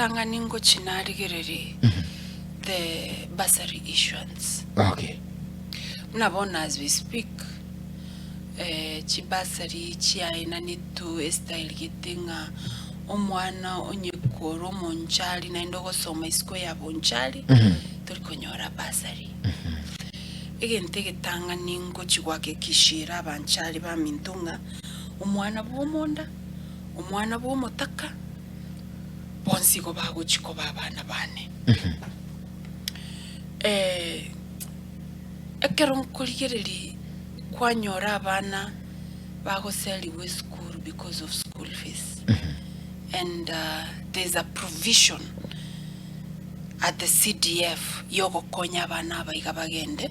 ritang'ani ngochia narigererie the bursary issuance. Okay. Buna bono as we speak, eh, chibursary chiaenanetwe estyle gete ng'a omwana onye korwa omonchari naende ogosoma isiko ya bonchari, tori konyora bursary. Egento egetang'ani ngochia gohakikishera abanchari baminto ng'a omwana bw'omonda, omwana bw'omotaka, bonsi igo bagochia koba abana bane. Eh, ekero nkorigereria kwanyora abana bagoserigwa esukuru because of school fees and uh, there's a provision at the CDF yogokonya abana abaiga bagende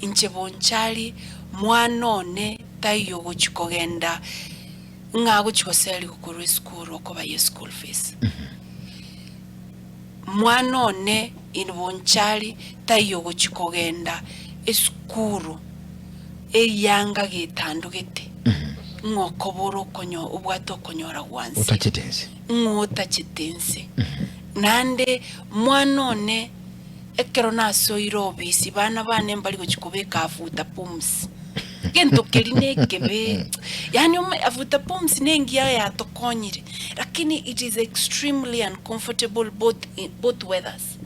Inche bonchari mwana one taiyo ogochi kogenda ng'a agochi goserigwa korwa esukuru okoba ye school fees. Mwana one in bonchari taiyo ogochi kogenda esukuru eyanga getandogete ng'a okobora okonyo obwate okonyora gwanse. Otachete ense. Ng'a otachete ense. Naende mwana one. Ekero nasoire obisi, bana bane mbari gochia kobeka afuta pumps. Gento keri nekebe. Yani ome afuta pumps nengiya yatokonyire, lakini it is extremely uncomfortable both in both weathers.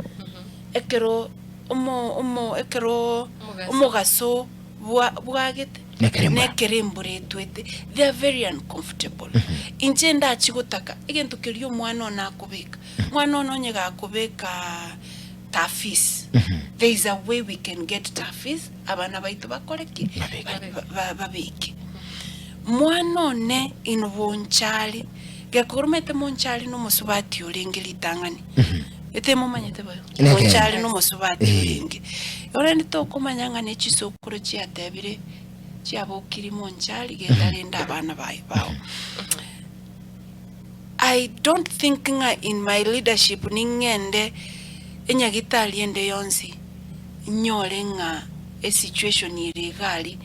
Ekero omo omo ekero Omogaso. omogaso bwa bwagete Nekero embura. nekero embura etwete they are very uncomfortable. Inche ndachi gotaka egento keria omwana one akobeka. Mwana one onye gakobeka taa fees, there is a way we can get taa fees abana baito bakore ki? Babe- ba- babeke. Mwana one in bonchari, gekoromete monchari nomosubati orenge ritang'ani. Etemomanyete boyo? Nege. Monchari nomosubati Eh. orenge. Orende tokomanya ng'a nechisokoro chiatebire chiabokiri monchari genda renda abana baye bao. I don't think ng'a in my leadership ning'ende enyagitari ende yonsi nyore ng'a esituation ere igari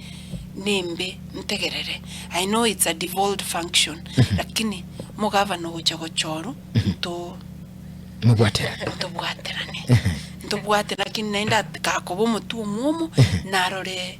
nembe ntegerere. I know it's a devolved function lakini mogavana ogocha gochoru nto Mobwaterane. ntobwaterane ntobwate lakini naende at- gakoba omotwe omwomo narore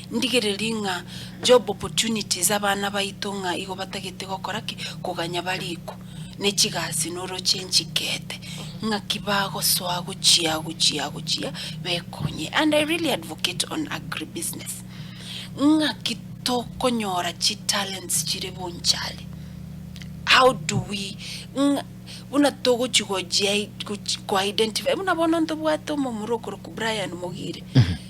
Ndigererie ng'a job opportunities abana baito ng'a igo batagete gokora ki? Koganya bariko ne chigasi noroche enchikete ng'aki bagosoa gochia gochia gochia bekonye and I really advocate on agri business ng'aki tokonyora chi talents chire bonchari how do we ng'a buna togochi gojia gochi ko identify buna bono ntobwate omomura okorokwa Brian Mogire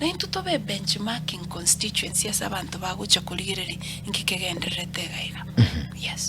Naintwe tobe ebenchmarking constituency ase abanto bagocha korigereria inki kegendererete egaiga. Yes.